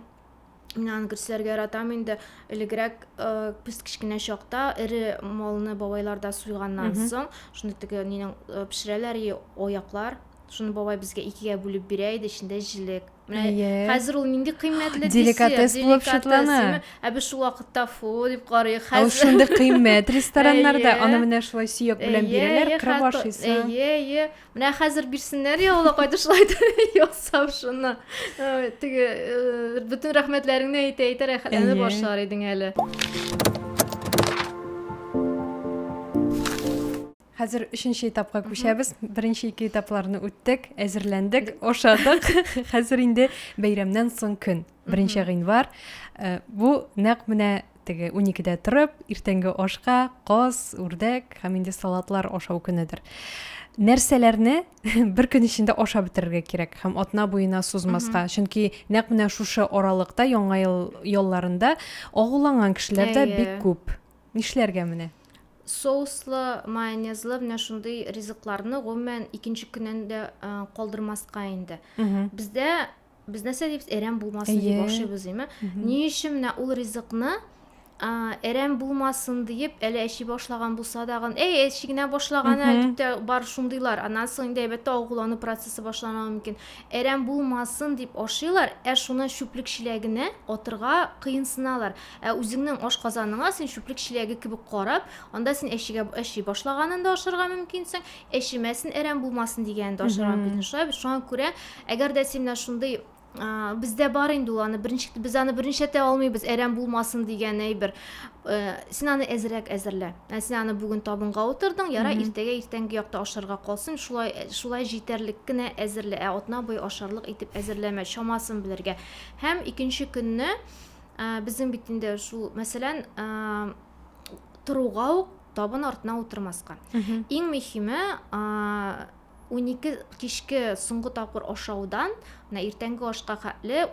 мин аны күрсәтергә яратам инде элегрәк э, без кечкенә чакта эре малны бабайларда суйганнан соң шуны теге нинең э, пешерәләр аяклар шуны бабай безгә икегә бүлеп бирә иде эчендә җилек менә yeah. хәзер ул нинди кыйммәтле деликатес булып
шутлана ә без шул вакытта
фу дип карыйк хәзер шундый кыйммәт
рестораннарда аны менә шулай сөяк белән бирәләр кырып ашыйсың әйе әйе менә
хәзер бирсеннәр я алла кайда шулай ясап шуны теге бөтен рәхмәтләреңне әйтә әйтә рәхәтләнеп башлар идең әле
Хәзер өченче этапка күчәбез. Беренче ике этапларны үттек, әзерләндек, ошадык. Хәзер инде бәйрәмнән соң көн, беренче гыйнвар. Э, бу нәкъ менә теге уникедә торып, иртәнге ашка каз, үрдәк һәм инде салатлар ашау көнедер. Нәрсәләрне бер көн эчендә ашап бетерергә кирәк һәм атна буена сузмаска. Чөнки нәкъ менә шушы аралыкта, яңа ел ялларында агуланган кешеләр дә бик күп. Нишләргә менә? Соуслы,
майонезлы менә шундый ризыкларны гомумән икенче көннән дә калдырмаска инде. Бездә без нәрсә дибез? Әрәм булмасын дип ашыйбыз, димме? Ни өчен менә ул ризыкны әрәм булмасын диеп әле әчи башлаган булса дагын, әй, әчи генә башлаган ә дип тә бар шундыйлар. Аннан соң инде әйбәттә агулану процессы башлана мөмкин. Әрәм булмасын дип ашыйлар, ә шуны чүплек чиләгенә атырга кыенсыналар. Ә үзеңнең ашказаныңа син чүплек чиләге кебек карап, анда син әчегә әчи башлаганын да ашарга мөмкинсең, әчемәсен, әрәм булмасын дигәнен дә ашарга мөмкинсең. Шулай бит, шуңа күрә, әгәр дә син менә шундый бездә бар инде ул аны беренче без аны беренчәтә алмыйбыз әрәм булмасын дигән әйбер э, син аны әзрәк әзерлә ә син аны бүген табынга утырдың ярай иртәгә иртәнге якта ашарга калсын шулай э, шулай җитәрлек кенә әзерлә ә атна буе ашарлык итеп әзерләмә чамасын белергә һәм икенче көнне Ә, безнең бит инде шул, мәсәлән, торуга ук табын артына утырмаска. Иң мөһиме, унике кичке соңгы тапкыр ашаудан мына иртәнге ашка хәтле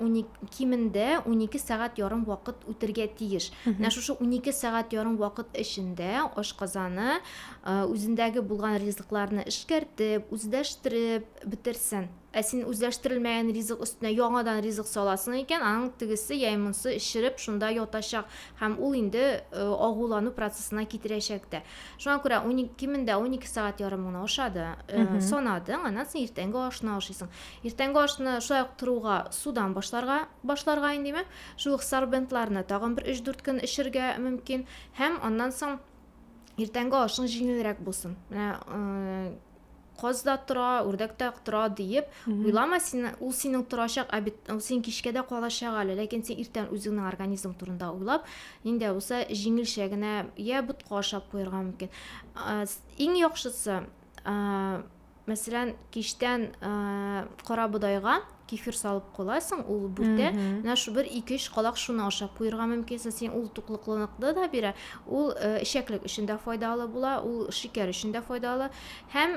кимендә унике сәгать ярым вакыт үтергә тиеш менә шушы унике сәгать ярым вакыт эчендә ашказаны үзендәге булган ризыкларны эшкәртеп үзләштереп бетерсен Ә син үзләштерелмәгән ризык өстенә яңадан ризык саласың икән, аның тегесе яи монсы эчереп шунда ятачак һәм ул инде э, агулану процессына китерәчәк тә. Шуңа күрә 12 кимендә 12 сәгать ярым гына ашады, э, санадың, аннан соң иртәнге ашны ашыйсың. Иртәнге ашны шулай ук торуга судан башларга башларга инде димәк, шул ук сорбентларны тагын бер 3-4 көн эчергә мөмкин һәм аннан соң иртәнге ашың җиңелрәк булсын. Менә э, каз да тора, үрдәк тә тора диеп уйлама, син, ул синең торачак, ә бит ул син кичкә дә калачак әле, ләкин син иртән үзеңнең организм турында уйлап, нинди булса җиңелчә генә я ботка ашап куярга мөмкин. Иң яхшысы, мәсәлән, кичтән кара бодайга кефир салып куасың, ул бүтә. Менә шу бер ике өч калак шуны ашап куерга мөмкин. Син ул туклыклылыкны да бирә, ул э, эчәклек өчен дә файдалы була, ул шикәр өчен дә файдалы. Һәм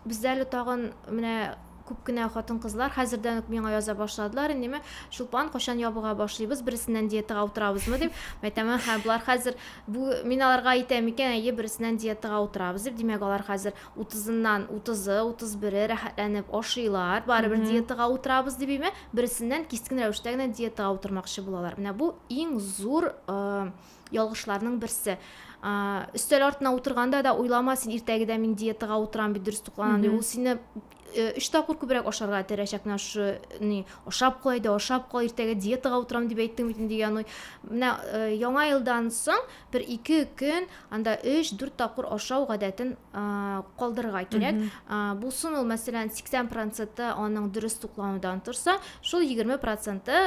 бездә әле тагын менә күп кенә хатын-кызлар хәзердән үк миңа яза башладылар, инде мен Чулпан кайчан ябыга башлыйбыз, берсеннән диетага утырабызмы дип. Мәйтәмен һәм болар хәзер бу мин аларга әйтәм икән, әйе, берсеннән диетага утырабыз дип. Димәк, алар хәзер утызыннан утызы, утыз бере рәхәтләнеп ашыйлар, барыбер диетага утырабыз дип име, берсеннән кискен рәвештә генә диетага утырмакчы булалар. Менә бу иң зур э, ялгышларның берсе. Э, өстәл артына утырганда да уйлама син иртәгедә мин диетага утырам бит, дөрес тукланам дип. Ул сине Өч тапкыр күбрәк ашарга терәшәк менә шушы ни ашап куй да ашап куй иртәгә диетага утырам дип әйттең бит инде яный менә яңа елдан соң бер ике көн анда өч дүрт тапкыр ашау гадәтен калдырырга кирәк булсын ул мәсәлән сиксән проценты аның дөрес тукланудан торса шул егерме проценты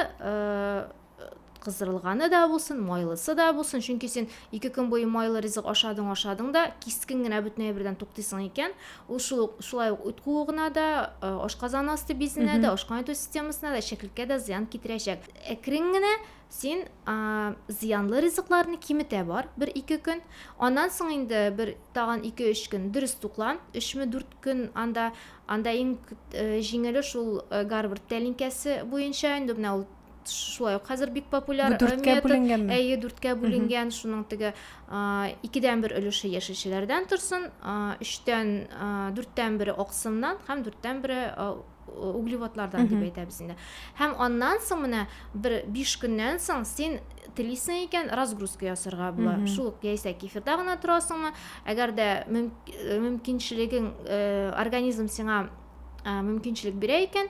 кыздырылганы да булсын, майлысы да булсын, чөнки син ике көн буе майлы ризык ашадың, ашадың да, кискен генә бөтенләй бердән туктыйсың икән, ул шул шулай ук үт куыгына да, э, ашказан асты бизенә дә, ашкан итү системасына да, чәклеккә дә зыян китерәчәк. Әкрен генә син а, зыянлы ризыкларны киметә бар бер ике көн аннан соң инде бер тагын ике өч көн дөрес туклан өчме дүрт көн анда анда иң э, җиңеле шул э, гарвард тәлинкәсе буенча инде менә ул шулай ук хәзер бик популяр дүрткә бүленгән
әйе дүрткә бүленгән
шуның теге икедән бер өлеше яшелчәләрдән торсын өчтән дүрттән бере аксымнан һәм дүрттән бере углеводлардан дип әйтәбез инде һәм аннан соң менә бер биш көннән соң син телисең икән разгрузка ясарга була шул ук яисә кефирда гына торасыңмы әгәр дә мөмкинчелегең организм сиңа мөмкинчелек бирә икән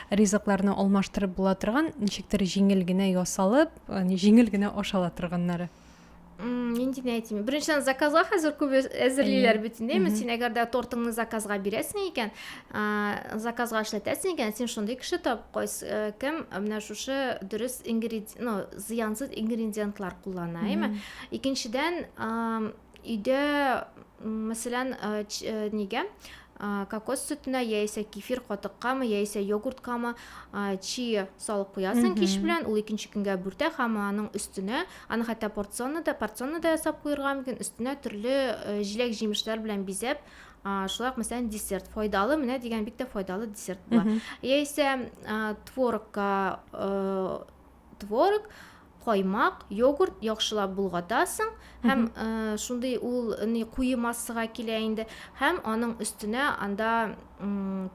Ризыкларны алмаштырып була торган, ничектер җиңел генә ясалып, җиңел генә ашала торганнары. Нинди
әйтим? Беренчедән заказга хәзер күп әзерлиләр бит инде. Мин син әгәр дә тортыңны заказга бирәсең икән, заказга эшләтәсең икән, син шундый кеше тап, кайсы э, кем менә шушы дөрес ингредиент, ну, зыянсыз ингредиентлар куллана, әйме? Икенчедән, Өйдә, мәсәлән, нигә кокос сөтенә яисә кефир катыккамы яисә йогурткамы чи салып куясың кич белән ул икенче көнгә бүртә һәм аның өстенә аны хәтта порционно да порционно да ясап куярга мөмкин өстенә төрле э, җиләк җимешләр белән бизәп шулай ук мәсәлән десерт файдалы менә дигән бик тә файдалы десерт була яисә творогка э, творог, каймак, йогурт яхшылап болгатасың һәм э, шундый ул ни куе массага килә инде һәм аның өстенә анда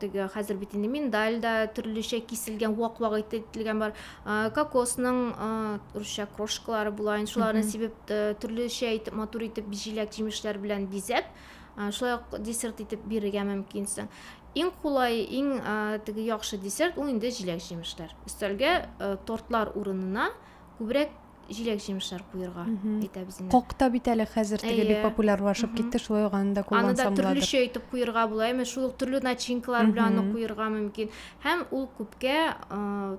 теге хәзер бит инде миндаль да төрлечә киселгән вак вак ителгән бар э, кокосның э, русча крошкалары була инде шуларны сибеп төрлечә итеп матур итеп җиләк җимешләр белән бизәп шулай ук десерт итеп бирергә мөмкинсең Иң кулай, иң теге яхшы десерт ул инде җиләк-җимешләр. Өстәлгә тортлар урынына күбрәк җиләк-җимешләр куерга әйтәбез инде. Кокта бит әле хәзер
теге бик популярлашып китте, шулай ук аны да куллансам буладыр. Аны да төрлечә
итеп куерга
була,
әмма шул ук төрле начинкалар белән аны куерга мөмкин. Һәм ул күпкә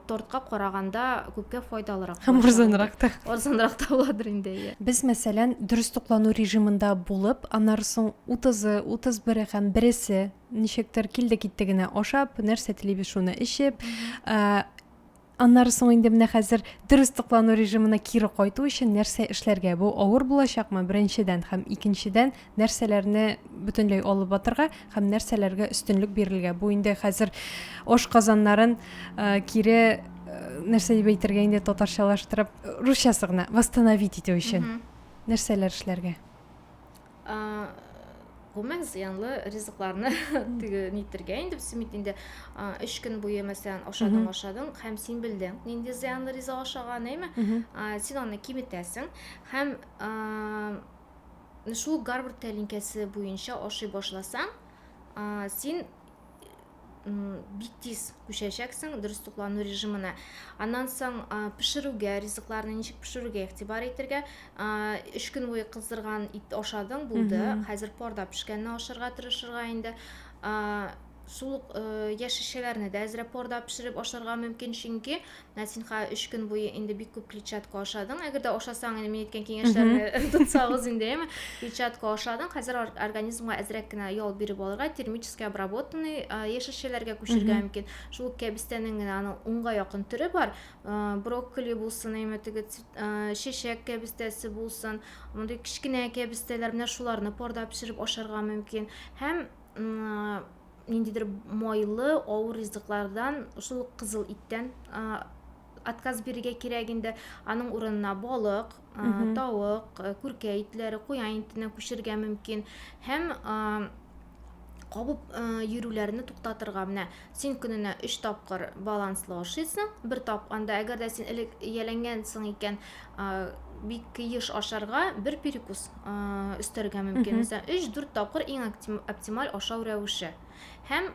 тортка караганда күпкә файдалырак. Һәм арзанрак та.
Арзанрак та буладыр
инде. Без, мәсәлән,
дөрес туклану режимында булып, аннары соң Утызы, утыз бере һәм бересе ничектер килде-китте генә ашап, нәрсә телибез шуны эчеп, аннары соң инде менә хәзер дөрес туклану режимына кире кайту өчен нәрсә эшләргә? Бу авыр булачакмы беренчедән һәм икенчедән нәрсәләрне бөтенләй алып батырга һәм нәрсәләргә өстенлек бирергә? Бу инде хәзер ош казаннарын кире нәрсә дип әйтергә инде татарчалаштырып русчасы гына восстановить итү өчен нәрсәләр эшләргә?
гомумән зыянлы ризыкларны теге нитергә инде без бит инде өч көн буе мәсәлән ашадың ашадың һәм син белдең нинди зыянлы ризык ашаган әйме син аны киметәсең һәм шул гарвард тәлинкәсе буенча ашый башласаң син бик тиз күчәчәксең дөрес туклану режимына аннан соң пешерүгә ризыкларны ничек пешерүгә игътибар итәргә өч көн буе кыздырган ит ашадың булды хәзер парда пешкәнне ашарга тырышырга инде суык яшелчәләрне дә әзрәк парда пешереп ашарга мөмкин чөнки Насинха өч көн буе инде бик күп клетчатка ашадың. Әгәр дә ашасаң, инде мин әйткән киңәшләрне тотсагыз инде, яме. Клетчатка ашадың. Хәзер организмга әзрәк кенә ял биреп алырга, термически обработанный яшелчәләргә күчергә мөмкин. Шул кәбестәнең генә аның унга якын төре бар. Брокколи булсын, яме теге чәчәк кәбестәсе булсын. Мондый кечкенә кәбестәләр менә шуларны парда пешереп ашарга мөмкин. Һәм ниндидер майлы, авыр ризыклардан, шул ук кызыл иттән отказ бирергә кирәк инде. Аның урынына балык, тавык, күркә итләре, куян итенә күчергә мөмкин. Һәм кабып йөрүләрне туктатырга менә син көненә өч тапкыр баланслы ашыйсың бер тап анда әгәр дә син элек ияләнгәнсең икән бик еш ашарга бер перекус өстәргә мөмкин. Мәсәлән, 3-4 тапкыр иң оптималь ашау рәвеше. Һәм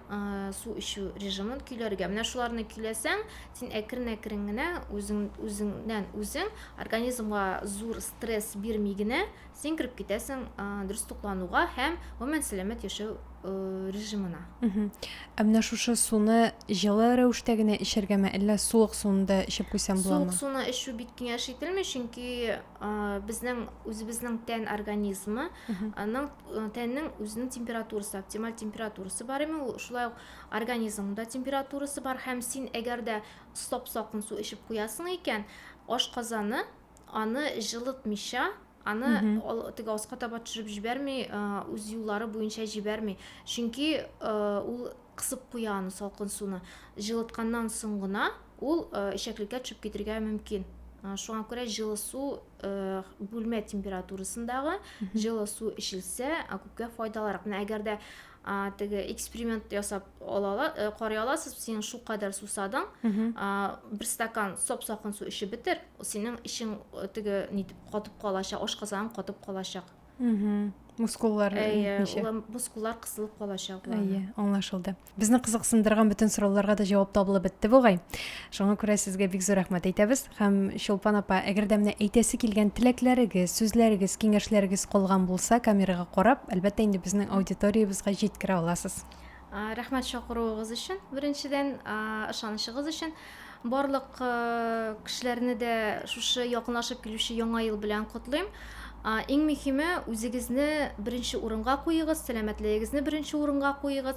су эчү режимын көйләргә. Менә шуларны көйләсәң, син әкрен-әкрен генә үзең үзеңнән үзең организмга зур стресс бирми генә син кереп китәсең ә, дөрес туклануга һәм гомумән сәламәт яшәү ә, режимына. Ә
менә шушы суны җылы рәвештә генә эчәргәме, әллә суык суны да эчеп куйсам буламы? Суык суны эчү
бик
киңәш
ителми, чөнки ә, безнең үзебезнең тән организмы, аның э, тәннең үзенең температурасы, оптималь температурасы бар име, ул шулай ук организмда температурасы бар һәм син әгәр дә стоп-сакын су эчеп куясың икән, ашказаны аны җылытмыйча аны теге аска таба төшереп җибәрми үз юллары буенча җибәрми чөнки ул кысып куя аны салкын суны җылытканнан соң гына ул эчәклеккә төшеп китергә мөмкин шуңа күрә җылы су бүлмә температурасындагы җылы су эчелсә күпкә файдалырак менә әгәр дә теге эксперимент ясап алала э, карый аласыз син шулкадәр сусадың бер стакан сап сакын су эчеп бетер синең эчең э, теге нитеп катып калачак ашказаның катып калачак
мускуллар ничә мускуллар кысылып
калачак әйе аңлашылды
безне кызыксындырган бөтен сорауларга да җавап табылып бетте бугай Шуңа күрә сезгә бик зур рәхмәт әйтәбез һәм Чулпан апа, әгәр дә менә әйтәсе килгән теләкләрегез, сүзләрегез, киңәшләрегез калган булса, камерага карап, әлбәттә инде безнең аудиториябезгә җиткерә аласыз. Рәхмәт
чакыруыгыз өчен, беренчедән, ышанычыгыз өчен. Барлык кешеләрне дә шушы якынлашып килүче яңа ел белән котлыйм. Иң мөһиме, үзегезне беренче урынга куегыз, сәламәтлегегезне беренче урынга куегыз.